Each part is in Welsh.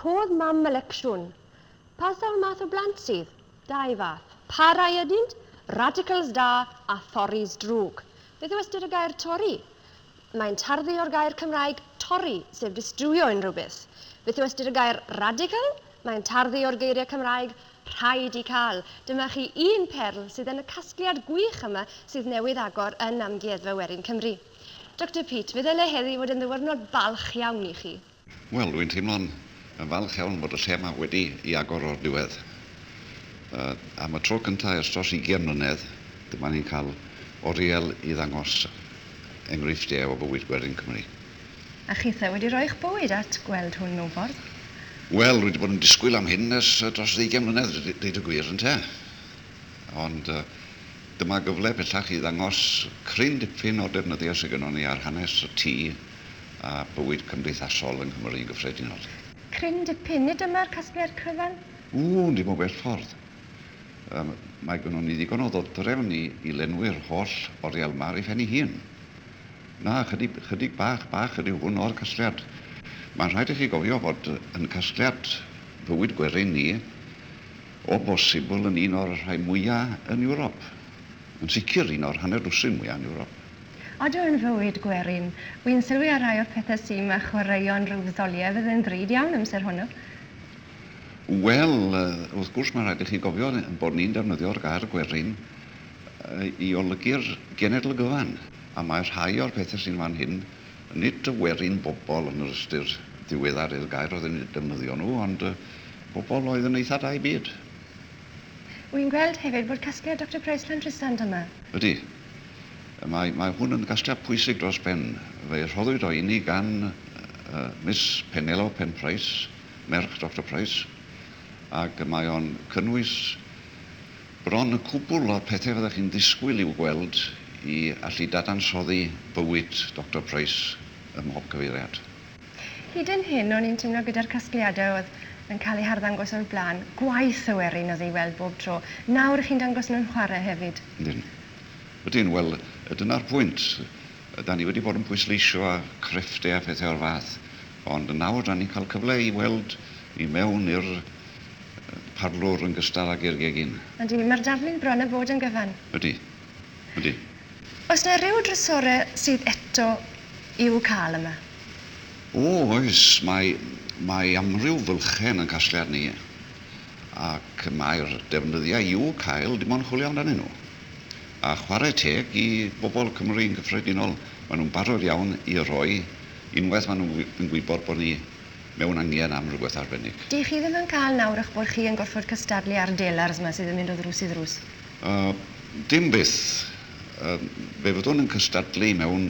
Rhodd mam y lecsiwn. Pa sawl math o blant sydd? Dau fath. Pa rai ydynt? Radicals da a Thoris drwg. Beth yw ystyr y gair Tori? Mae'n tarddu o'r gair Cymraeg torri, sef distriwio unrhyw beth. Beth yw ystyr y gair Radical? Mae'n tarddu o'r geiriau Cymraeg rhaid i cael. Dyma chi un perl sydd yn y casgliad gwych yma sydd newydd agor yn Amgueddfa Werin Cymru. Doctor Peat, fe ddyle heddi fod yn ddiwrnod balch iawn i chi. Wel, dwi'n teimlo'n yn falch iawn bod y lle yma wedi i agor o'r diwedd. Am y tro cyntaf ers dros ugian mlynedd, dyma ni'n cael oriel i ddangos enghreifftiau o bywyd gwerin Cymru. A chithe wedi rhoi'ch bywyd at gweld hwn mewn ffordd? Wel, dwi wedi bod yn disgwyl am hyn ers dros ddeugain mlynedd, deud y gwir, ynte? Ond dyma gyfle bellach i ddangos cryn dipyn o'r defnyddiau sydd gynnon ni ar hanes y tŷ a bywyd cymdeithasol yng Nghymru yn gyffredinol de. Cryn dipyn, nid dyma'r casgliad cryfan? Ww, dim o bell ffordd. Yym, mae gynnon ni ddigon o ddodrefn i i lenwi'r holl oriel yma ar ei phen ei hun. Na, chydig, chydig bach, bach ydyw hwn o'r casgliad. Mae'n rhaid i chi gofio fod yn casgliad bywyd gwerin ni. O bosibl yn un o'r rhai mwya' yn Ewrop. Yn sicr un o'r hanner dwsin mwya' yn Ewrop. Odw yn fywyd gwerin. Wi'n sylwi ar rai o'r pethe sy 'ma, chwaraeon rhyw ddoliau fydd yn ddrud iawn amser hwnnw. Wel, wrth gwrs mae'n rhaid i chi gofio ein bod ni'n defnyddio'r gair 'gwerin' i olygu'r genedl gyfan, a mae rhai o'r pethe sy'n fan hyn, Nid y werin bobl yn yr ystyr ddiweddar i'r gair oedd yn eu defnyddio nhw, ond y bobl oedd yn eitha da i byd. Wi'n gweld hefyd bod casgliad Doctor Price Llandrisant yma. Ydy. Mae, mae hwn yn gasgliad pwysig dros ben. Fe rhoddwyd o i ni gan Miss Penelo Pen Price, merch Doctor Price, ac mae o'n cynnwys, Bron y cwbl o'r pethau fyddech chi'n ddisgwyl i'w gweld i allu dadansoddi bywyd Doctor Price ym mhob cyfeiriad. Hyd yn hyn o'n i'n teimlo gyda'r casgliadau oedd yn cael eu harddangos o'r blaen, gwaith y werin oedd ei weld bob tro, nawr y'ch chi'n dangos nhw'n chwarae hefyd. Ydyn. Ydyn, wel, dyna'r pwynt. Da ni wedi bod yn pwysleisio a crefftau a phethau o'r fath, ond nawr da ni'n cael cyfle i weld i mewn i'r parlwr yn gystal ag i'r gegin. Ydy, mae'r daflu'n bron a bod yn gyfan. Ydy. Ydy. Oes na ryw drysore sydd eto i'w cael yma? O, oes. Mae, mae amryw fylchen yn casgliad ni, ac mae'r defnyddiau i'w cael dim ond chwilio amdanyn nhw. A chwarae teg i bobl Cymru yn gyffredinol, maen nhw'n barod iawn i roi unwaith maen nhw'n gwybod bod ni mewn angen am rywbeth arbennig. Dych chi ddim yn cael nawr eich bod chi yn gorfod cystadlu â'r delars 'ma sydd yn mynd o ddrws i ddrws? Yy, dim byth. Yy, fe fyddwn yn cystadlu mewn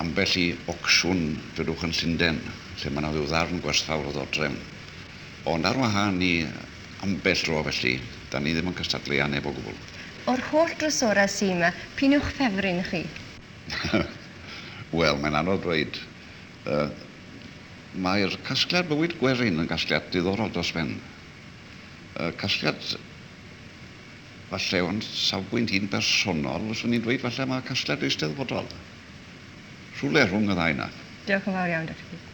ambell i ocsiwn dwedwch yn Llunden, lle mae 'na ryw ddarn gwerthfawr o ddodrefn. Ond ar wahân i ambell dro felly, 'dan ni ddim yn cystadlu â neb o gwbl. O'r holl drysorau sy' 'ma, p'un yw'ch ffefryn chi? Wel, mae'n anodd dweud. Yy mae'r casgliad bywyd Gwerin yn gasgliad diddorol dros ben. Yy casgliad falle o'n safbwynt i'n bersonol, fyswn i'n dweud falle mae casgliad eisteddfodol. Rhywle rhwng y ddau 'na. Diolch yn fawr iawn, Doctor Peak.